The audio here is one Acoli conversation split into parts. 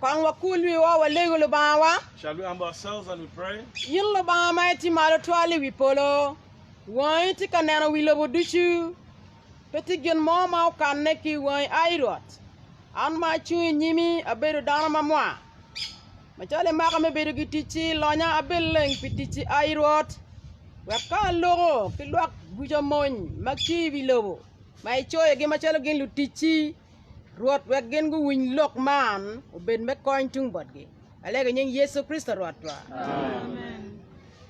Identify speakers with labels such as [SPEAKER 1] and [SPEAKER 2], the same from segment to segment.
[SPEAKER 1] Kong wakul wiwa walego Lubangawa. Shall we humble ourselves and we pray? In Lubanga ma
[SPEAKER 2] itye malo twal i wi polo, wangi tye ka neno wi lobo ducu. Pe tye gin mo ma okanne ki i wangi, ai Rwot. An ma acung i nyimi abedo dano ma mwa. Macalo imaka me bedo gi ticci, lonya abed leng pi ticci, ai Rwot, wek ka aloko ki lwak ducu amony ma tye i wi lobo ma icoyogi macalo gin luticci, Rwot wek gin guwiny lok man obed me kony tung botgi. Alego i nying Yecu Kricito Rwotwa. Amen.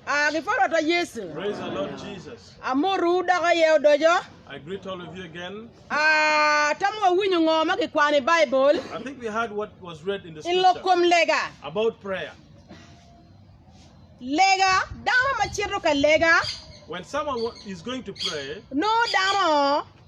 [SPEAKER 1] Ah, gi pa
[SPEAKER 2] Rwotwa Yecu. Praise the Lord Jesus.
[SPEAKER 1] Amoru dok aye
[SPEAKER 2] odoco. I greet all of you
[SPEAKER 1] again. Ah, tamo
[SPEAKER 2] wawinyo ngo ma gikwano i Bible I think we heard what
[SPEAKER 1] was read in the i lok scripture kom lega.
[SPEAKER 2] about
[SPEAKER 1] prayer.
[SPEAKER 2] Lega, dano ma cito ka lega, When someone wa-
[SPEAKER 1] is going to pray, nongo dano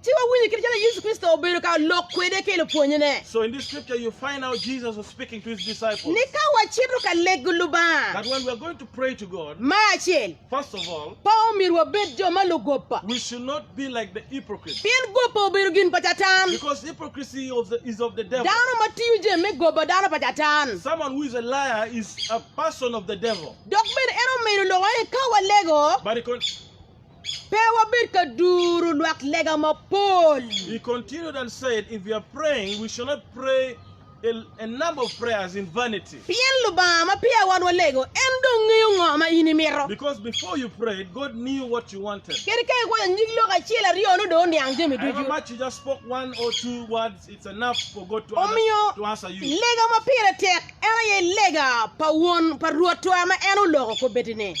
[SPEAKER 1] Ci wawinyo kit calo Yecu
[SPEAKER 2] Kricito obedo ka lok kwede ki lupwonnyene. So in this scripture you
[SPEAKER 1] find out Jesus was speaking to his disciples. Ni ka wacito ka
[SPEAKER 2] lego Lubanga. That when we are going to pray
[SPEAKER 1] to God. Me acel. First
[SPEAKER 2] of all. Pe
[SPEAKER 1] omyero wabed
[SPEAKER 2] jo ma lugoba. We should not be
[SPEAKER 1] like the hypocrites. Pien goba obedo gin
[SPEAKER 2] pa Catan. Because hypocrisy
[SPEAKER 1] of the, is of the devil. Dano ma tiyo jami me
[SPEAKER 2] goba dano pa Catan. Someone who is a liar
[SPEAKER 1] is a person of the devil. Dok bene en omedo
[SPEAKER 2] loko ni ka walego. But he con-
[SPEAKER 1] Pe
[SPEAKER 2] wabed ka duru lwak lega mapol. He continued
[SPEAKER 1] and said, If we are praying, we shall not pray a, a number of prayers in vanity. Pien Lubanga ma
[SPEAKER 2] peya wan walego, en dong ngeyo ngo ma in imito. Because before you
[SPEAKER 1] prayed, God knew what you wanted. Kadi ka ikwayo nyig
[SPEAKER 2] lok acel aryo, nongo dong oniang jami However ducu. much you just spoke
[SPEAKER 1] one or two words, it's enough for God to, Omiyo, under, to answer you.
[SPEAKER 2] lega ma
[SPEAKER 1] pire tek
[SPEAKER 2] en aye lega pa Won pa Rwotwa ma en oloko kobedine.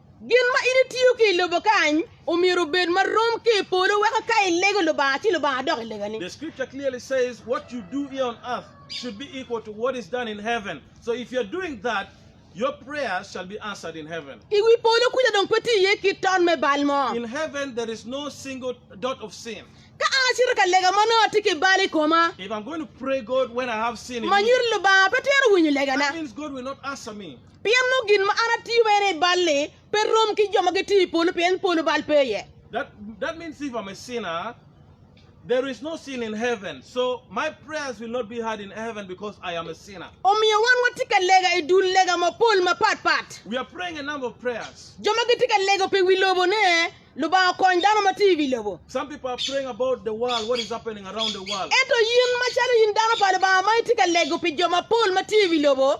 [SPEAKER 2] Gin ma in itiyo ki i lobo kany omyero obed ma rom ki i polo weko ka ilego Lubanga ci Lubanga dok ilegani. The scripture clearly says
[SPEAKER 1] what you do here on earth should be equal to what is done in heaven. So if you're doing that, your prayers shall be answered in heaven. I wi polo kuca dong
[SPEAKER 2] pe tye iye kit ton me bal mo. In heaven there is
[SPEAKER 1] no single dot of sin. Ka an acito ka
[SPEAKER 2] lega ma nongo atye ki bal i koma, If I'm going to pray
[SPEAKER 1] God when I have sin in me, manyira Lubanga pe twero
[SPEAKER 2] winyo legana. that means God will not
[SPEAKER 1] answer me. Pien nongo gin ma an
[SPEAKER 2] atiyo bene i bal-li pe rom ki jo ma gitiyo i polo, pien polo bal pe
[SPEAKER 1] iye. Omiyo wan watye ka
[SPEAKER 2] lega i dul lega mapol mapat pat.
[SPEAKER 1] Jo ma gitye ka lego
[SPEAKER 2] pi wi lobo ne, Lubanga okony dano ma tye i wi lobo.
[SPEAKER 1] Ento in, macalo
[SPEAKER 2] in dano pa Lubanga ma itye ka lego pi jo mapol ma tye i wi lobo,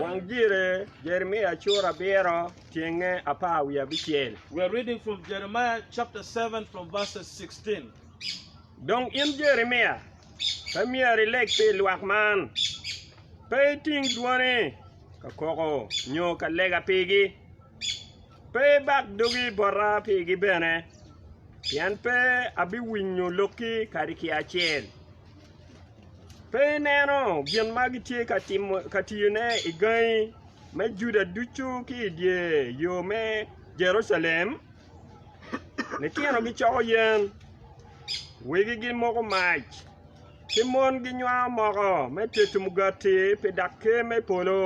[SPEAKER 3] Wang dyere,
[SPEAKER 4] Jeremia cura abiro, cenge apar wiye abicel.
[SPEAKER 1] Dong
[SPEAKER 4] in Jeremia, pe myero ileg pi lwak man, pe iting dwoni ka koko nyo ka lega pigi, pe ibak dogi bota pigi bene, pien pe abiwinyo lokki kadi ki acel. Pe ineno gin ma gitye ka tiyone i gangi me Juda ducu ki i dye yo me Jerucalem? Litino gicoko yen, wegi gimoko mac, ki mon ginywango moko me tedo mugati pi dag Ker me polo,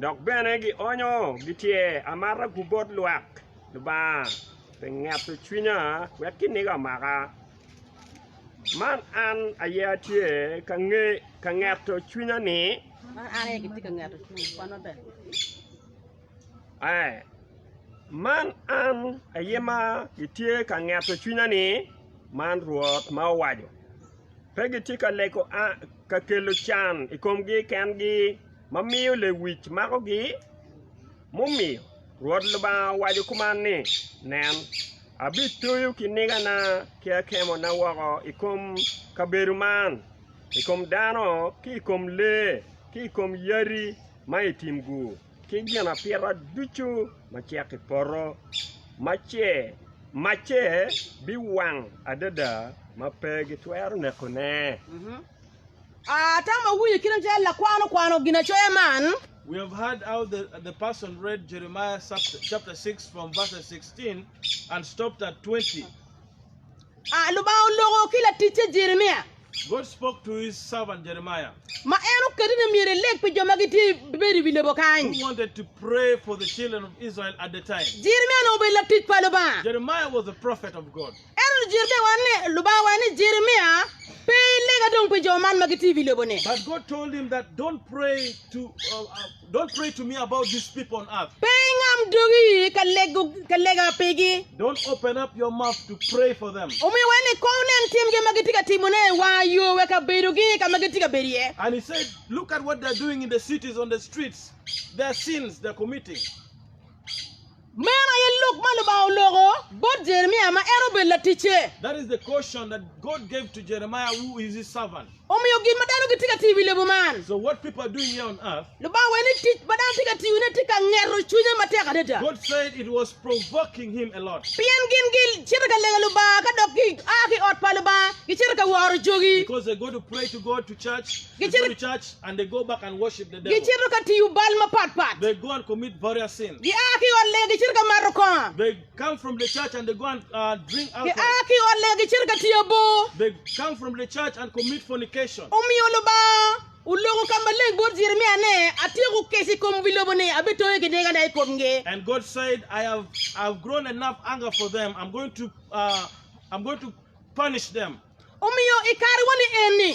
[SPEAKER 4] dok bene gionyo gityer amata-gu bot lwak Lubanga pi ngeto cwinya wek kiniga omaka. Man an aye atye ka nge ka ngeto cwinya ni man an aye atye ka
[SPEAKER 2] ngeto cwinya kwan maber
[SPEAKER 4] ee man an aye ma gitye ka ngeto cwinya ni man Rwot ma owaco pe gitye ka lego ka kelo can i komgi kengi ma miyo lewic makogi. Mumiyo, Rwot Lubanga owaco kuman ni, Nen, abitoyo kinigana ki akemona woko i kom kabedo man, i kom dano ki i kom lee ki i kom yadi ma i tim-gu ki ginapita ducu ma cek i poto, macce biwang adada ma pe gitwero nekone.
[SPEAKER 2] Atamo winyo kit ma cal lakwan okwano ginacoya man. We have heard how
[SPEAKER 1] the, the person read Jeremiah chapter 6 from verses 16 and stopped at 20. Ah,
[SPEAKER 2] Lubanga oloko ki laticce Jeremia God spoke to
[SPEAKER 1] his servant Jeremiah, ma en oketo
[SPEAKER 2] ni myero eleg pi jo ma gitye bedo i wi lobo kany. who wanted to pray
[SPEAKER 1] for the children of Israel at the time. Jeremia onongo obedo latic
[SPEAKER 2] pa Lubanga. Jeremiah was a prophet
[SPEAKER 1] of God. Ento lujirikewa ne,
[SPEAKER 2] Lubanga owaco ni Jeremia, Pe ilega dong pi jo man ma gitye i wi lobo-ni.
[SPEAKER 1] Pe ingam dogi
[SPEAKER 2] ka lego ka lega
[SPEAKER 1] pigi. Omiyo wene ni kow nen
[SPEAKER 2] timgi ma gitye ka timone wa yo weka bedogi ka ma gitye ka
[SPEAKER 1] bedo iye.
[SPEAKER 2] Meno aye lok ma Lubanga oloko bot Jeremia ma en obedo laticce.
[SPEAKER 1] Omiyo gin ma dano
[SPEAKER 2] gitye ka tiyo i wi lobo man,
[SPEAKER 1] Lubanga owaco ni tic ma
[SPEAKER 2] dano tye ka tiyone tye ka ngeto cwinye matek adada,
[SPEAKER 1] pien gin gicito
[SPEAKER 2] ka lego Lubanga ka dok gia ki i ot pa Lubanga gicito ka woro jogi.
[SPEAKER 1] Gicito ka tiyo
[SPEAKER 2] bal
[SPEAKER 1] mapat
[SPEAKER 2] pat. Gia ki
[SPEAKER 1] i ot lega gicito
[SPEAKER 2] ka mato kongo.
[SPEAKER 1] Gia ki i ot
[SPEAKER 2] lega
[SPEAKER 1] gicito ka
[SPEAKER 2] tiyo bor.
[SPEAKER 1] Omiyo Lubanga
[SPEAKER 2] oloko ka maleng bot Jeremia ni, Atyeko keca i kom wi lobo ni abitonge ki
[SPEAKER 1] negana i komgi. Omiyo i
[SPEAKER 2] karewani eni,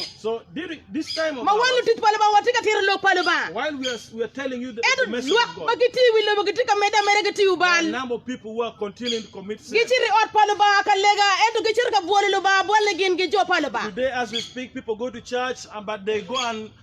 [SPEAKER 1] ma wan lutic pa Lubanga watye
[SPEAKER 2] ka
[SPEAKER 1] tito
[SPEAKER 2] lok pa Lubanga,
[SPEAKER 1] ento lwak ma
[SPEAKER 2] gitye i
[SPEAKER 1] wi lobo
[SPEAKER 2] gitye
[SPEAKER 1] ka
[SPEAKER 2] medde ameda ki tiyo bal. Gicito
[SPEAKER 1] i ot pa Lubanga
[SPEAKER 2] ka lega, ento gicito ka bwolo Lubanga
[SPEAKER 1] bwal
[SPEAKER 2] ni gin
[SPEAKER 1] gi
[SPEAKER 2] jo
[SPEAKER 1] pa
[SPEAKER 2] Lubanga.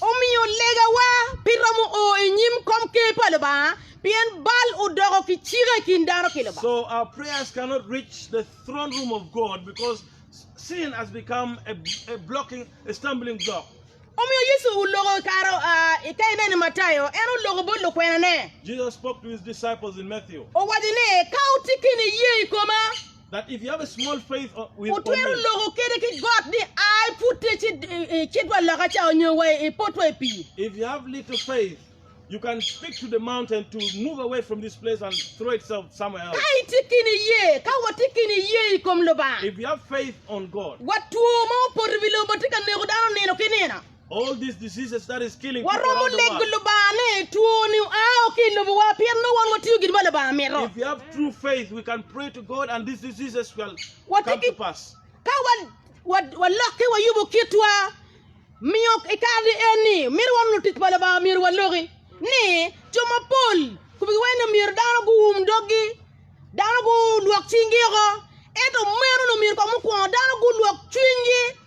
[SPEAKER 1] Omiyo legawa
[SPEAKER 2] pe romo o i nyim komker pa Lubanga, pien bal odoko kicika i kin dano ki
[SPEAKER 1] Lubanga. Omiyo Yecu
[SPEAKER 2] oloko i kare oa i ka ineno i Matayo, en oloko bot lukwenane,
[SPEAKER 1] owaco ni, Ka
[SPEAKER 2] wutye kene iye i koma.
[SPEAKER 1] Wutwero loko kede
[SPEAKER 2] ki got
[SPEAKER 1] ni,
[SPEAKER 2] 'Ai, pud icitwa loka ca, onyo wa ipotwa i pii.
[SPEAKER 1] Ka itye ki niye,
[SPEAKER 2] ka watye ki niye i kom Lubanga, wat
[SPEAKER 1] two ma
[SPEAKER 2] opoto i wi lobo tye ka neko dano nino ki nino.
[SPEAKER 1] Waromo nego Lubanga
[SPEAKER 2] ni twoni oa woko ki i lobowa pien nongo wan watiyo gin ma Lubanga mito.
[SPEAKER 1] Ka
[SPEAKER 2] walokke wayubo kitwa, miyo i kare ni eni mito wan lutic pa Lubanga myero waloki ni jo mapol kobigi wai ni myero dano guum doggi, dano gulwok cingi woko. Ento meno ni myero kong mukwongo dano gulwok cwinygi.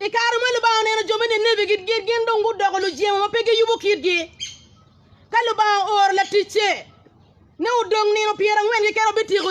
[SPEAKER 1] I kare
[SPEAKER 2] ma Lubanga oneno jo me Ninibi gidgir, gin dong gudoko lujemo ma pe giyubo kitgi. Ka Lubanga ooro laticce ni odong nino pyerangwen keken obityeko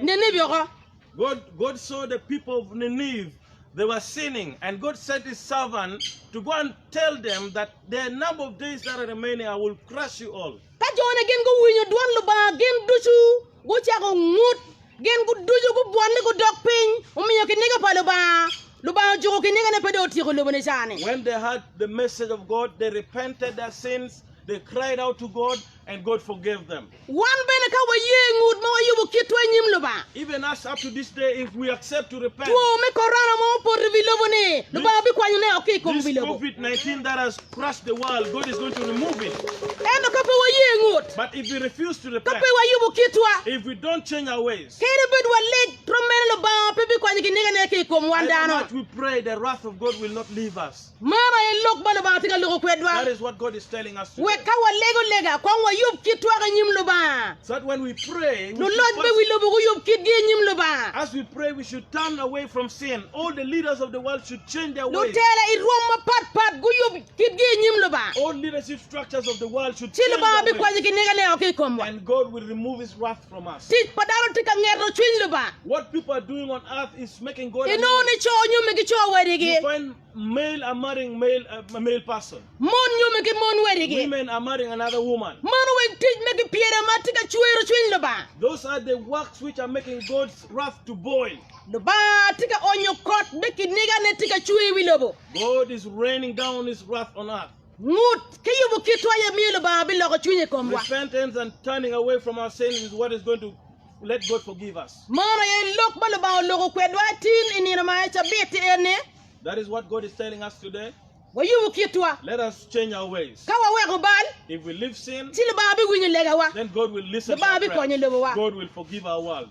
[SPEAKER 2] Ninibi oko. God, God
[SPEAKER 1] saw the people of Nineveh, they were sinning, and God sent His servant to go and tell them that the number of days that are remaining, I will crush you all. Ka jone gin guwinyo
[SPEAKER 2] dwon Lubanga, gin ducu gucako ngut. Gin ducu gubwonne gudok piny, omiyo kiniga pa Lubanga, Lubanga ojuko kinigane pe dong otyeko lobo ni cani. When they heard the
[SPEAKER 1] message of God, they repented their sins, they cried out to God, and God forgave them. Wan bene ka waye
[SPEAKER 2] i ngut ma wayubo kitwa i nyim Lubanga, Even us up to this
[SPEAKER 1] day, if we accept to repent, two me Corona ma
[SPEAKER 2] opoto i wi lobo ni, Lubanga bikwanyo ne oko ki i kom this wi lobo. COVID-19 that
[SPEAKER 1] has Ento ka pe waye
[SPEAKER 2] ngut,
[SPEAKER 1] ka pe wayubo
[SPEAKER 2] kitwa,
[SPEAKER 1] kadi bed walig,
[SPEAKER 2] twom meno Lubanga pe bikwanyo ginigane ki i kom wan dano.
[SPEAKER 1] Man aye
[SPEAKER 2] lok ma Lubanga tye ka
[SPEAKER 1] loko
[SPEAKER 2] kwedwa, wek ka
[SPEAKER 1] walego
[SPEAKER 2] lega kong wayub kitwa ki i nyim Lubanga.
[SPEAKER 1] Luloc me wi lobo
[SPEAKER 2] guyub kitgi i nyim Lubanga.
[SPEAKER 1] Lutela i rwom mapat
[SPEAKER 2] pat guyub kitgi i nyim Lubanga,
[SPEAKER 1] ci Lubanga bikwonyo kinege
[SPEAKER 2] anega
[SPEAKER 1] ki i
[SPEAKER 2] komwa.
[SPEAKER 1] Tic pa dano tye ka ngeto
[SPEAKER 2] cwiny Lubanga.
[SPEAKER 1] Inongo ni co nyome
[SPEAKER 2] ki co wadigi,
[SPEAKER 1] mon nyome ki
[SPEAKER 2] mon wadigi.
[SPEAKER 1] Mano weng tic ma
[SPEAKER 2] gipyelo ma tye ka cwero cwiny Lubanga.
[SPEAKER 1] Lubanga tye
[SPEAKER 2] ka onyo kot me kinigane tye ka cwer i wi lobo. God is raining
[SPEAKER 1] down His wrath on us. Ngut ki
[SPEAKER 2] yubo kitwa aye miyo Lubanga biloko cwinye i komwa. Repentance and turning
[SPEAKER 1] away from our sins is what is going to let God forgive us. Mano aye lok ma
[SPEAKER 2] Lubanga oloko kwedwa tin i nino ma aye cabit en ni. That is what God
[SPEAKER 1] is telling us today. Wayubo kitwa.
[SPEAKER 2] Let us change our
[SPEAKER 1] ways. Ka waweko bal.
[SPEAKER 2] If we leave sin.
[SPEAKER 1] Ci Lubanga biwinyo
[SPEAKER 2] legawa. Then God will listen to our prayers.
[SPEAKER 1] Lubanga bikonyo lobowa. God
[SPEAKER 2] will forgive our world.